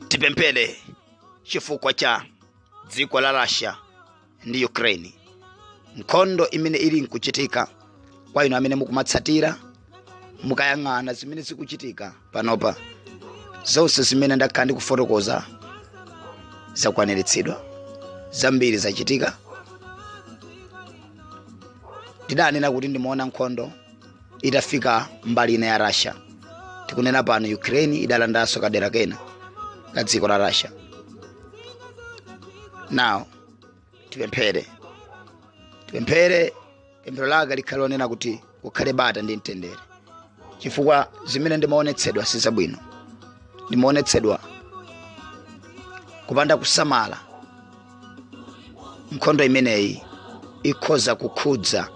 tipemphere chifukwa cha dziko la russia ndi ukraine nkhondo imene ili nkuchitika kwa inu amene mukumatsatira mukayang'ana zimene zikuchitika panopa zonse zimene ndakhala ndikufotokoza zakwaniritsidwa zambiri zachitika ndidanena kuti ndimaona nkhondo itafika mbali ina ya russia tikunena pano ukraine idalandanso kadera kena ka dziko la russia now tipemphere tipemphere pemphero lake likhale lonena kuti kukhale bata ndi mtendere chifukwa zimene ndimaonetsedwa si zabwino ndimaonetsedwa kupanda kusamala nkhondo imeneyi ikhoza kukhudza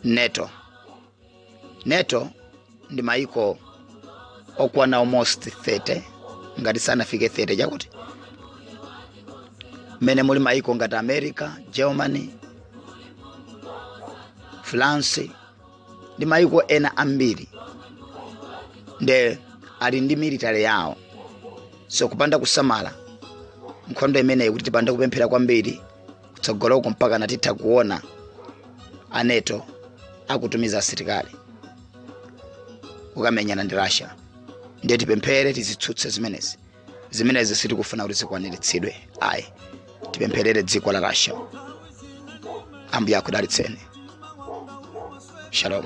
nato nato ndi mayiko okwana almost 30 ngati sanafike 30 chakuti mmene muli mayiko ngati america germany france ndi mayiko ena ambiri nde ali ndi military yawo so kupanda kusamala nkhondo imeneyi kuti tipande kupemphera kwambiri kutsogoloko mpaka tinatha kuona a nato akutumiza asilikali kukamenyana ndi russia ndiye tipemphere tizitsutse zimenezi zimenezi sitikufuna kuti zikwaniritsidwe ayi tipempherere dziko la russia ambuye akudalitseni shalom